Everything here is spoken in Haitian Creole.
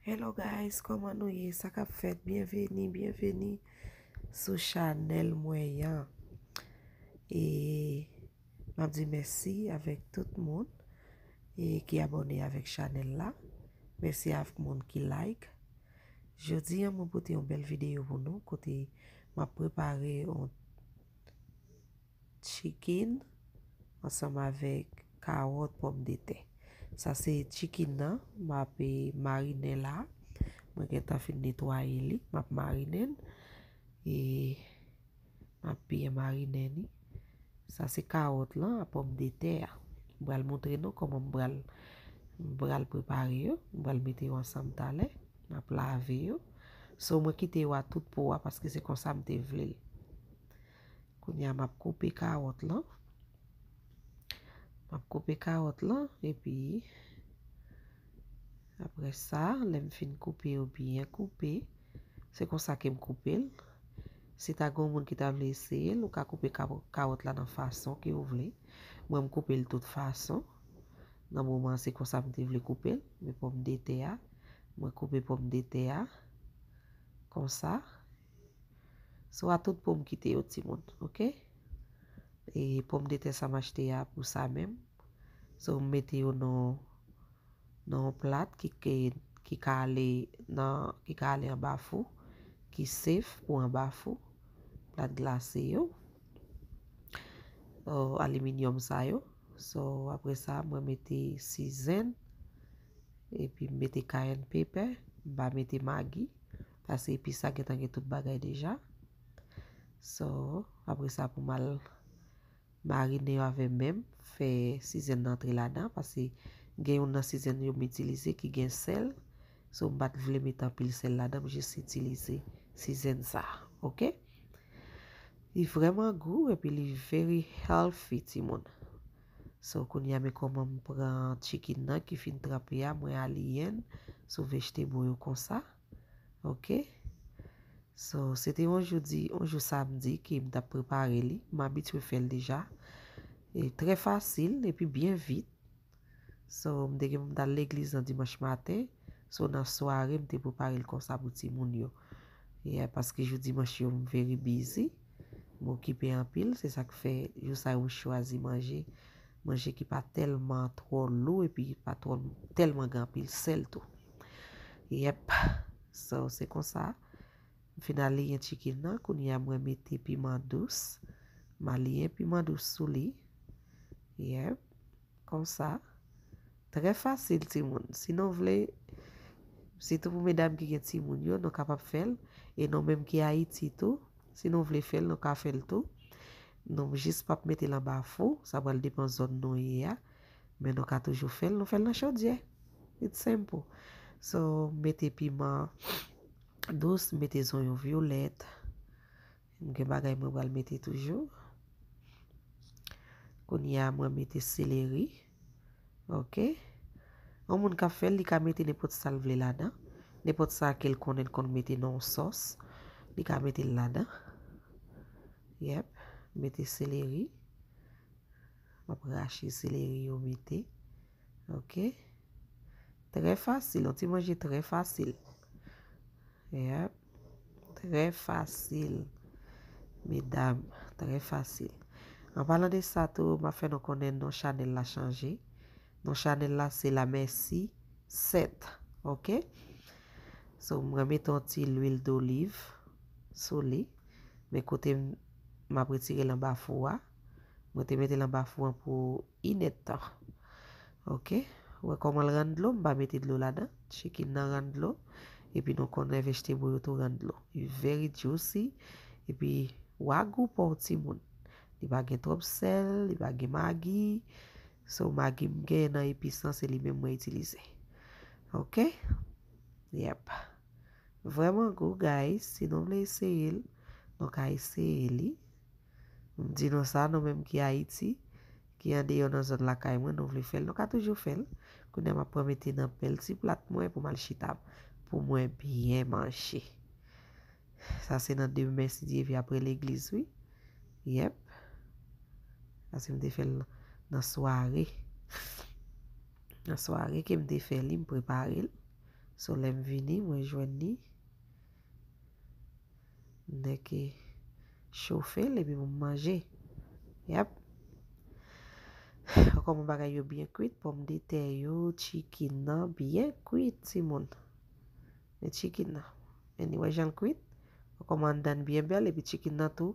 Hello guys koman nou ye sa kap fèt byen veni byen veni sou chanel mwen yan e map di mèsi avèk tout moun e ki abone avèk chanel la mèsi avèk moun ki like jodi an mwen pote yon bèl videyo pou nou kote map prepare yon Chikin ansanm avèk kawòt pòmdetè. Sa se chikin nan m ap marinen la. Mwen gentan fin netwaye li. M ap marinen l. E m ap byen marinen li. Sa se kawòt lan ak pòmdetè a. M pral montre nou kòman m pral m pral prepare yo. M pral mete yo ansanm talè. M ap lave yo. So mwen kite yo a tout po a paske se konsa m te vle l. Kounye a map koupe kawòt lan. Map koupe kawòt lan epi aprè sa lèm fin koupe yo byen koupe se konsa kem koupel. Si ta gen yon moun ki ta vle eseyel ou ka koupe kawòt la nan fason ke ou vle. Mwen m koupel tout fason. Nan moman an se konsa m te vle koupel. Men pòmdetè a mwen koupe pòmdetè a konsa So a tout poum kite yo timoun ok e pom de tè sa m achte a pou sa menm so m mete yo nan nan yon plat ki ke ki ka ale nan ki ka ale anba fou ki safe pou anba fou plat glase yo o aliminyòm sa yo so apre sa mwen mete sizenn epi m mete kayenn pepè m pa mete magi. Pase epis la gentan gen tout bagay deja. So, apre sa pou mal marine yo avè menm, fè sizèn nan antre ladan pase gen youn nan sizèn yo m itilize ki gen sèl. So m pat vle met anpil sèl ladan, m jis itilize sizèn sa. Ok. Li vrèman gou epi li very healthy timoun. So kounye a men kòman m pran chicken nan ki fin tranpe a, mwen aliyen sou vegetable yo konsa. Ok So se te yon jou di yon jou samdi ke m tap prepare li m abitye fè l deja e trè fasil epi byen vit So m te gen pou m t al legliz nan dimanch maten So nan sware m te prepare l konsa pou timoun yo Yeah paske jou dimanch yo m very busy m okipe anpil se sak fè jou sa yo m chwazi manje manje ki pa tèlman twò lou epi ki pa twò tèlman gen anpil sèl tou. Yep so se konsa m fin aliyen chicken nan kounye a mwen mete piman dous m aliyen piman dous sou li yep konsa trè fasil timoun si nou vle sitou pou medam ki gen timoun yo nou kapab fèl e nou menm ki ayiti tou si nou vle fèl nou ka fèl tou nou jis pap metel anba fou sa pral depan zòn nou ye a. Men nou ka toujou fèl nou fèl nan chodyè it's simple so mete piman dous mete zonyon violèt m gen bagay mwen pral mete toujou kounye a mwen mete seleri ok yon moun kap fèl li ka mete nenpòt sal vle ladan nenpòt sa kel konnen l konn mete nan yon sòs li ka mete l ladan yep mete seleri. wap rache seleri yo mete ok trè fasil yon ti manje trè fasil yep trè fasil medam trè fasil an palan de sa tou map fè nou konnen non chanèl la chanje non chanèl la se la mèsi 7 ok so mwen mete yon ti lwil doliv sou li men kote map retirel anba fou a. Mwen te mete l anba fou an pou inèdtan. Ok. Ou wè kòman l rann dlo? M pa mete dlo ladan. Chicken nan rann dlo. Epi nou konnen vegetable yo tou rann dlo. Li very juicy. Epi wagou pa w timoun. Li pa gen twòp sèl. Li pa gen magi. So magi m gen nan epis lan se li menm mwen itilize. Ok. Yep. Vrèman gou guys. Si nou vle eseye l, nou ka eseye li. M di nou sa, nou menm ki Ayiti, ki andeyò nan zòn lakay mwen, nou vle fè l, nou ka toujou fè l. Kounye a m ap pran mete nan bèl ti plat mwen pou m al chita pou mwen byen manje. Sa se nan demen si Dye ve apre legliz wi. Yep. Pase m te fè l nan sware. Nan sware ke m te fè li, m prepare l. So lè m vini, mwen jwenn li. Nèg ki chofe l epi pou m manje. Yap. An kòman bagay yo byen kwit, pòmdetè yo, chicken nan byen kwit timoun. Men chicken nan. Anyway jan l kwit, an kòman anndan l byen bèl epi chicken nan tou.